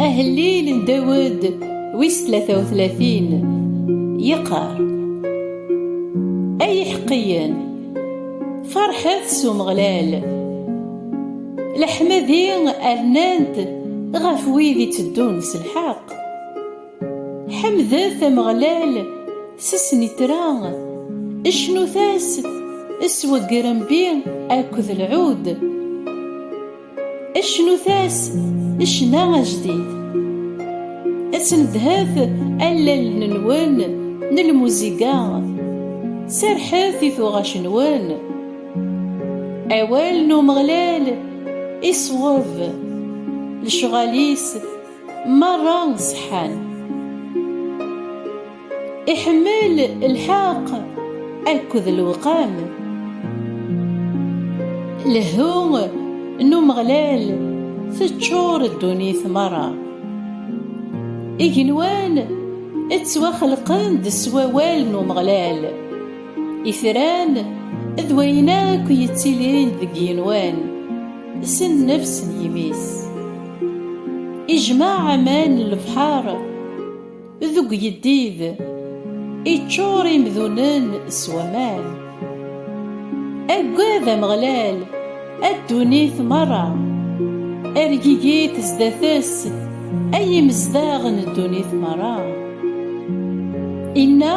Ahellil n Dawed wis tlata u tlatin yeqqar Ay iḥeqqiyen farḥet s Umeɣlal leḥmadi rnant ɣef wid iteddun s lḥeqq Ḥemdet Ameɣlal s snitra, cnut-as s weggerembi akked lɛud, cnut-as ccna ajdid. Ad tnedhet allalen-nwen n lmuziga, serrḥet i tuɣac-nwen. Awal n Umeɣlal iṣweb, lecɣal-is. Merra ṣeḥḥan. Iḥemmel lḥeqq akked lewqam. Lehhu n Umeɣlal teččur ddunit merra. Igenwan ttwaxelqen-d s wawal n Umeɣlal. Itran d wayen akk yettilin deg yigenwan s nnefs n yimi-s. Ijmeɛ aman n lebḥer deg uyeddid, iččur imdunen s waman. Aggad Ameɣlal a ddunit merra, ergigit sdat-s ay imezdaɣ n ddunit merra. Inna.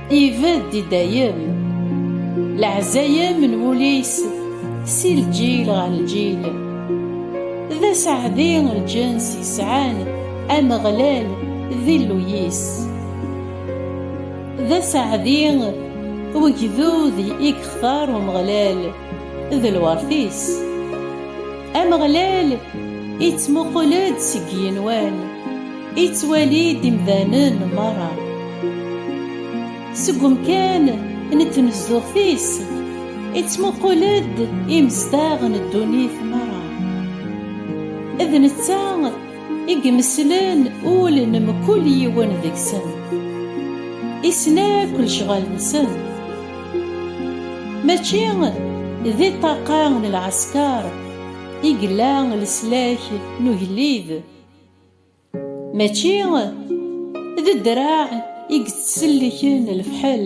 Ibedd i dayem. Leɛzayem n wul-is si lǧil ɣer lǧil. D aseɛdi n lǧens yesɛan Ameɣlal d Illu-is. D aseɛdi n wegdud i yextar Umeɣlal. d lweṛt-is. Ameɣlal ittmuqul-d seg yigenwan, ittwali-d imdanen merra. Seg umkan n tnezduɣt-is, ittmuqul-d imezdaɣ n ddunit merra. D netta. i imeslen ul n mkul yiwen deg-sen, issen akk lecɣal-nsen, mačči di ṭṭaqa n lɛesker i yella leslak n ugellid, mačči d ddreɛ i yettselliken lefḥel.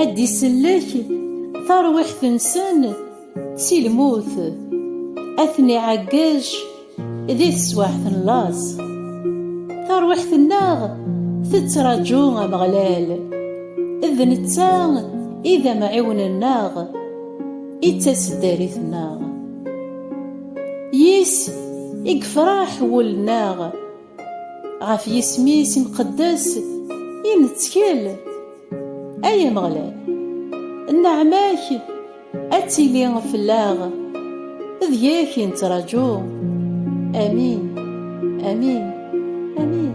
Ad d-isellek tarwiḥt-nsen si lmut, ad ten-iɛeggec di teswiɛt n laẓ. Tarwiḥt-nneɣ tettraǧu Ameɣlal, d netta i d amɛiwen-nneɣ, i d taseddarit-nneɣ. Yis i yefraḥ wul-nneɣ. Ɣef yisem-is imqeddes i nettkel, ay Ameɣlal. Nneɛma-k ad tili fell-aɣ, deg-k i nettraǧu. Amin, amin, amin.